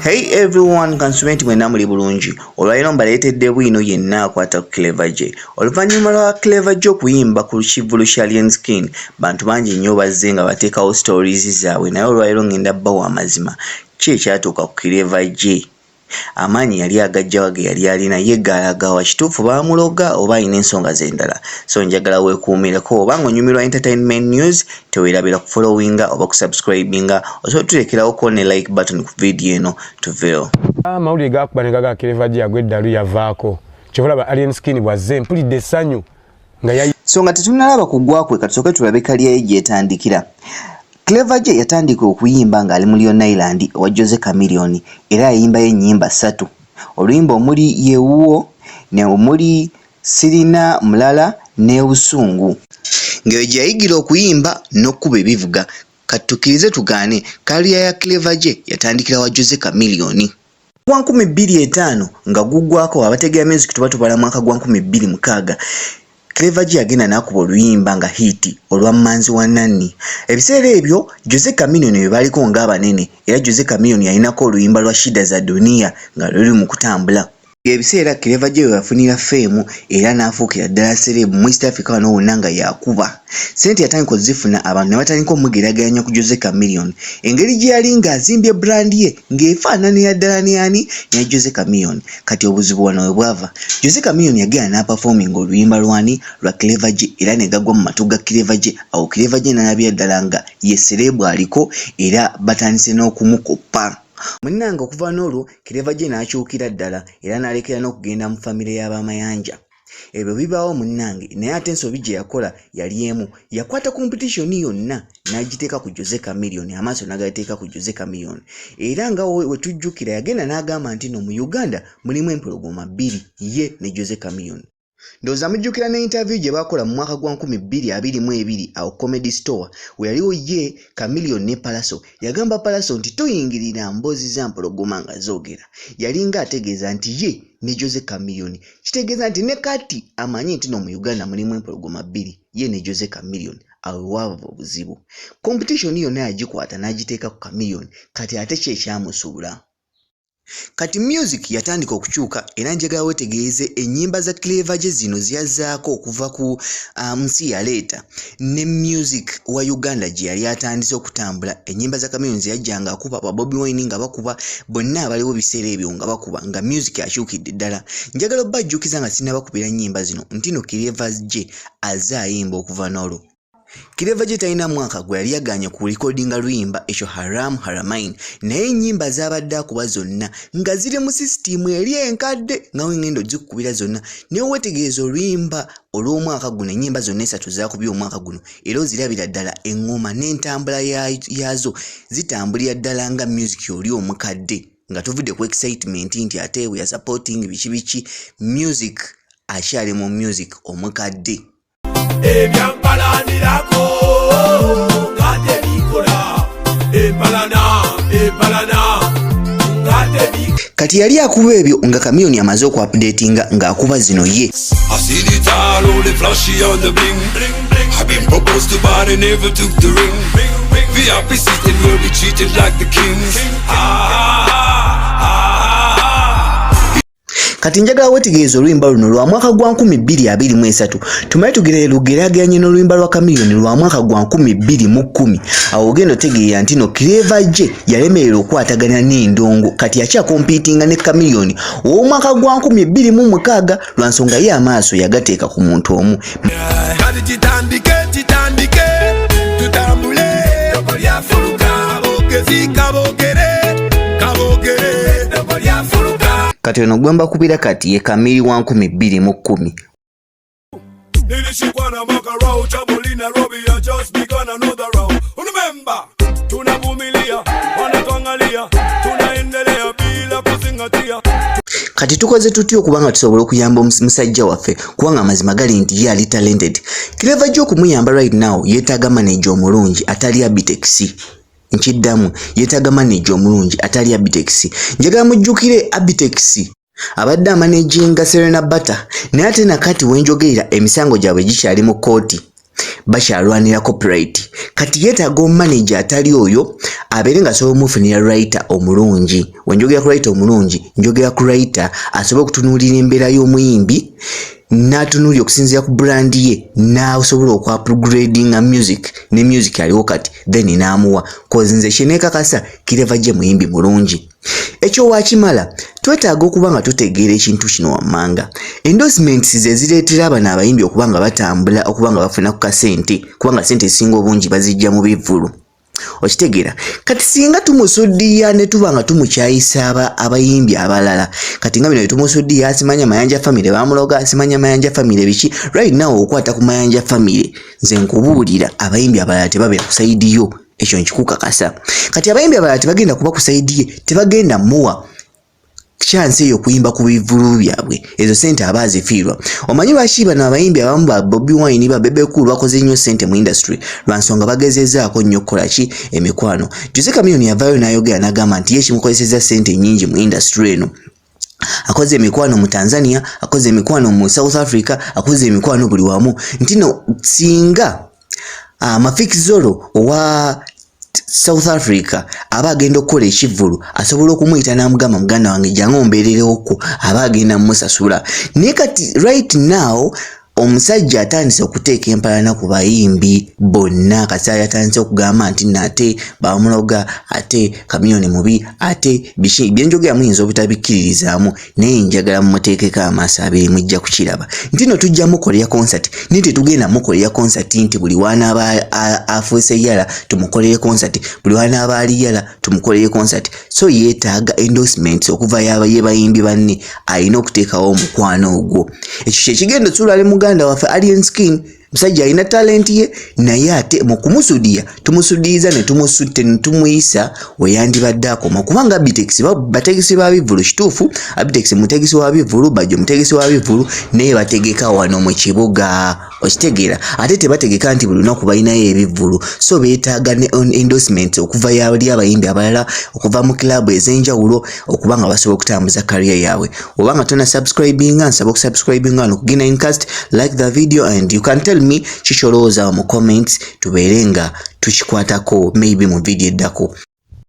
Hey everyone kansume nti mwena muli bulungi olwaliro mbaleetedde bwino yenna akwata ku cleva gye oluvannyuma lwa cleva gye okuyimba ku kivulu kya lien skin bantu bangi nnyo bazze nga bateekawo stories zaabwe naye olwaliro ngenda bbawo amazima ki ekyatuuka ku cleva gye Amaanyi yali agajja wa geyali alina ye gaalaga wa kituufu baamuloga oba alina ensonga ze ndala so njagala wekuumireko oba nga onyumirwa entertainment news tewerabira ku followinga oba ku subscribinga osobola tuteekerawo ko ne like button ku video eno tuveewo amawulire gaakuba ne gaga Clever G agwa eddalu yavaako kyova olaba Alien Skin bw'azze mpulidde essanyu so nga tetunalaba kugwa kwe katusooke tulabe kaliya ye gyetandikira Clever Jay yatandika okuyimba ng'ali mu Leon Island owa Jose Chameleone era yayimbayo ennyimba ssatu oluyimba omuli yewuwo ne omuli sirina mulala n'ebusungu ng'eyo gye yayigira okuyimba n'okkuba ebivuga kati tukkirize tugaane kaliya ya Clever Jay yatandikira wa Jose Chameleone Gwa nkumi bbiri etaano nga guggwako abategera music tuba tubala mwaka gwa nkumi bbiri mukaaga Clever G yagenda n'akuba oluyimba nga hiiti olwa Mmanzi wa Nanni. Ebiseera ebyo Jose Chameleone be baaliko ng'abanene era Jose Chameleone yalinako oluyimba lwa Shida za Dunia nga luli mu kutambula. Ebiseera Clever G we yafunira ffeemu era n'afuukira ddala sereebu mu East Africa wano wonna nga y'akuba. Ssente yatandika okuzifuna abantu ne batandika omugeraageranya ku Jose Chameleone engeri gye yali ng'azimbye brand ye ng'efaananira ddala ne ani? Ne Jose Chameleone. Kati obuzibu wano we bwava. Jose Chameleone yagenda n'apafoominga oluyimba lw'ani? Lwa Clever Jay era ne gagwa mu matu ga Clever Jay. Awo Clever Jay n'alabira ddala nga ye ssereebu aliko era batandise n'okumukoppa. Munnange okuva n'olwo Clever Jay n'akyukira ddala era n'alekera n'okugenda mu famire ya ba Mayanja. ebyo bibaawo munnange naye ate ensobi gye yakola yali emu yakwata competition yonna n'agiteeka ku jose camilion amaaso n'agateeka ku jose camilion era nga wetujjukira yagenda n'agamba nti no mu uganda mulimu empologoma bbiri ye ne jose camilion ndowooza mujjukira ne interview gye baakola mu mwaka gwa 222 awo comedy store we yaliwo ye camilion ne palaso yagamba palaso nti toyingirira mboozi za mpologoma nga zoogera yalinga ategeeza nti ye ne jose camilion kitegeeza nti ne kati amanyi nti no mu uganda mulimu empologoma bbiri ye ne jose camillion awe waava obuzibu competition yonna yagikwata n'agiteeka ku camillion kati ate ki ekyamusuula kati music yatandika okukyuka era njagala wetegeeze ennyimba za cleva gye zino ziyazzaako okuva ku uh, nsi yaleeta ne music wa uganda gye yali atandise okutambula ennyimba za kamiyoni zeyajjanga akuba ba bobi wine nga bakuba bonna abaliwo biseera ebyo nga bakuba nga music akyukidde ddala njagala obba ajjukiza nga sinabakubira nnyimba zino ntino kirevas gye aze ayimba okuva n'olwo kireva gye talina mwaka gwe yali yaganye ku likodinga luyimba ekyo haram haramain naye ennyimba zaabadde akuba zonna nga ziri mu sisitiimu eri enkadde nga wengenda ogikukubira zonna naye wetegeeza oluyimba olw'omwaka guno ennyimba zonna esatu zaakubye omwaka guno era ozirabira ddala eŋŋoma n'entambula yaazo zitambulira ddala nga music oli omukadde nga tuvudde ku excitement nti ate we are supporting biki biki music akyali mu music omukadde ebyampalanirako nga tebikola empalana empalana kati yali akuba ebyo nga kamiyoni amaze okuapdatinga ng'akuba zino ye I see the tile, all the flashy on the bling. I've been proposed to, but I never took the ring. VIP sitting will be treated like the kings. Ah, ah, ah. kati njagala wetegereza oluyimba luno lwa mwaka gwa 2223 tumaye tugerere lugerageranye n'oluyimba lwa kamiliyoni lwa mwaka gwa 21 awo ogenda otegeera nti no kireva je yalemerera okwatagana n'endongo kati yakyakompitinga ne kamiliyoni ow'omwaka gwa nkumi bbiri mu mukaaga lwa nsonga ye amaaso yagateeka ku muntu omu kati ono gwembakubira kati ye kamiri wa nkumi bbiri mu kkumi nilishikwa na makarau chaboli nairobi ya just begun another round unamemba tunavumilia wanatuangalia tunaendelea bila kuzingatia kati tukoze tutya okuba nga tusobola okuyamba musajja waffe kubanga amazima gali nti ye ali talented kireva gy okumuyamba right now yetaaga maneja omulungi atali abitekisi nkiddamu yetaaga maneja omulungi atali abitekisi njagala mujjukire abitekisi abadde amanaginga Serena Bata naye ate nakati wenjogerera emisango gyabwe gikyali mu kkooti bakyalwanira copyright kati yeetaaga omumaneja atali oyo abeere nga asobola omufunira writer omulungi wenjogera ku writer omulungi njogera ku writer asobole okutunuulira embeera y'omuyimbi n'atunuulira okusinziira ku brand ye n'asobola okwapgradinga music ne music aliwo kati then n'amuwa kozinze kyenekakasa kireva gye muyimbi mulungi Ekyo wakimala twetaaga okuba nga tutegeera ekintu kino wammanga endorsements ze zireetera abano abayimbi okuba nga batambula okuba nga bafuna ku kasente kubanga sente ezisinga obungi bazijja mu bivvulu okitegeera kati singa tumusuddiya ne tuba nga tumukyayisa abayimbi abalala kati nga bino byetumusuddiya asimanya mayanja famire bamuloga asimanya mayanja famire biki right now okwata ku mayanja famire nze nkubuulira abayimbi abalala tebabeera ku saidi yo ekyo nkikukakasa kati abayimbi abalala tebagenda kuba ku saidi ye tebagenda muwa chance eyo kuyimba ku bivulu byabwe ezo sente aba azifiirwa omanyi lwaki bano abayimbi abamu ba bobi wine ba bebe cool bakoze nnyo sente mu industry lwa nsonga bagezezaako nnyo okukola ki emikwano jose kamiyoni yavaayo n'ayogera n'agamba nti ye kimukozeseza sente nnyingi mu industry eno akoze emikwano mu Tanzania akoze emikwano mu South Africa akoze emikwano buli wamu ntino singa ah, Mafik Zolo owa South Africa aba agenda okukola ekivvulu asobola okumuyita n'amugamba muganda wange jangu ombeererewokko aba agenda musasula naye kati right now Omusajja atandise okuteeka empalana ku bayimbi bonna kasaali atandise okugamba nti nate bamuloga ate kamiyoni mubi ate biki byenjogera muyinza obutabikkiririzaamu naye njagala mumuteekeko amaaso abiri mujja kukiraba nti no tujja mukolera concert naye tetugenda mukolera concert nti buli wanaaba afuuse yala tumukolere concert buli wanaaba ali yala tumukolere concert so yeetaaga endorsements okuva yaba yebayimbi banne alina okuteekawo omukwano ogwo ekyo kyekigenda okyula ali muganda waffe alien skin musajja alina talenti ye naye ate mu kumusudiya tumusudiyiza ne tumusutte ne tumuyisa weyandibadde akoma kubanga abitegisi bategesi ba bivulu kituufu abitegisi mutegesi wa bivulu bajjo mutegesi wa bivulu naye bategeka wano mu kibuga okitegeera ate tebategeka nti buli lunaku balinayo ebivvulu so beetaaga ne on endorsement okuva yali abayimbi abalala okuva mu club ez'enjawulo okuba nga basobola okutambuza kariya yaabwe oba nga tona subscribinga nsaba okusubscribinga wano ku gina incast like the video and you can tell me kikyolowooza mu comments tubeere nga tukikwatako maybe mu vidiyo eddako